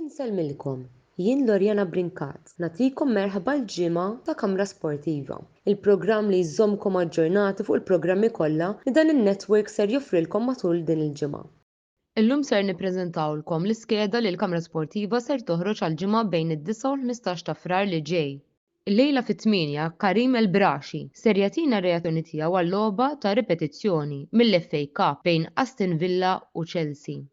Insellmilkom, jien Loriana Brincat, nagħtikom merħba l-ġimgħa ta' Kamra Sportiva, il-programm li jżommkom aġġornati fuq il-programmi kollha li dan in-network ser joffrilkom matul din il-ġimgħa. Illum ser nippreżentawlkom l-iskeda li l-Kamra Sportiva ser toħroġ għall-ġimgħa bejn id-disgħa u l-ħmistax ta' Frar li ġej. Illejla fit-tmienja, Karim El Brashi ser jagħtina r-reazzjoni tiegħu għal logħba ta' ripetizzjoni mill-FA Cup bejn Aston Villa u Chelsea.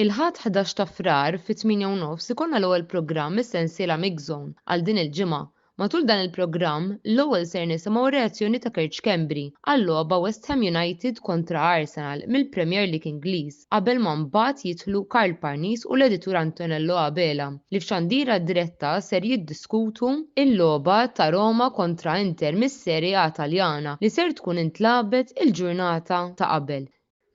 Il-Ħadd ħdax ta' Frar fit-tmienja u nofs ikollna l-ewwel programm mis-sensiela Mixzone għal din il-ġimgħa. Matul dan il-programm, l-ewwel ser nisimgħu r-reazzjoni ta' Kerċ Kembri għal-logħba West Ham United kontra Arsenal mill-Premier League Ingliż qabel ma mbagħad jidħlu Karl Parnis u l-editur Antonello Abela li f'xandira diretta ser jiddiskutu l-logħba ta' Roma kontra Inter mis-Serie A Taljana li ser tkun intlagħbet il-ġurnata ta' qabel.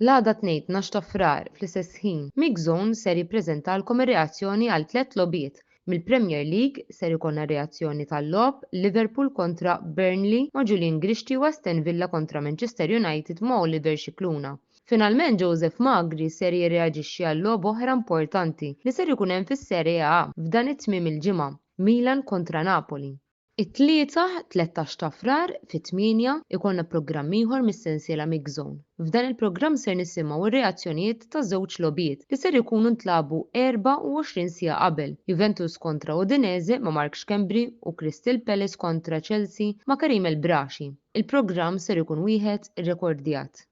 L-għada t-Tnejn tnax ta' Frar, fl-istess ħin, MixZone ser jippreżentalkom ir-reazzjoni għal tliet logħbiet. Mill-Premier League, ser ikollna reazzjoni tal-logħob Liverpool kontra Burnley ma' Julian Grixti u Aston Villa kontra Manchester United ma' Oliver Scicluna. Finalment Joseph Magri ser jirreaġixxi għal logħob oħra importanti li ser ikun hemm fis-Serie A f'dan it-tmiem il-ġimgħa, Milan kontra Napoli. It-Tlieta, 13 ta' Frar, fit-tmienja, ikollna programm ieħor mis-sensiela Mix Zone. F'dan il-programm ser nisimgħu r-reazzjonijiet ta' żewġ logħbiet li ser ikunu ntlagħbu 24 siegħa qabel, Juventus kontra Udinese ma' Mark Schembri u Crystal Palace kontra Chelsea ma' Karim El Braachi. Il-programm ser ikun wieħed irrekordjat.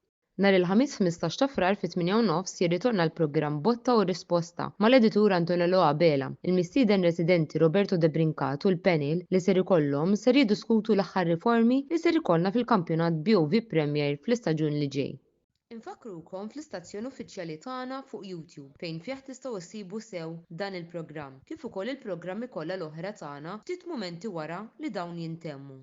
Nhar il-Ħamis 15 ta' Frar fit-tmienja u nofs jirritorna l-programm Botta u Risposta mal-editur Antonello Abela. Il-mistieden residenti Roberto De Brincat u l-panel li ser ikollhom ser jiddiskutu l-aħħar riformi li ser ikollna fil-kampjonat BOV Premier fl-istaġun li ġej. Infakkrukom fl-istazzjon uffiċjali tagħna fuq YouTube fejn fih tistgħu ssibu sew dan il-programm kif ukoll il-programmi kollha l-oħra tagħna ftit mumenti wara li dawn jintemmu.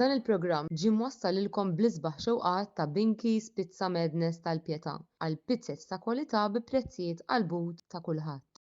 Dan il-programm ġie mwassal lilkom bl-isbaħ xewqat ta' Binky's Pizza Madness tal-Pietà għal pizzez ta' kwalità bi prezzijiet qalbut ta' kulħadd.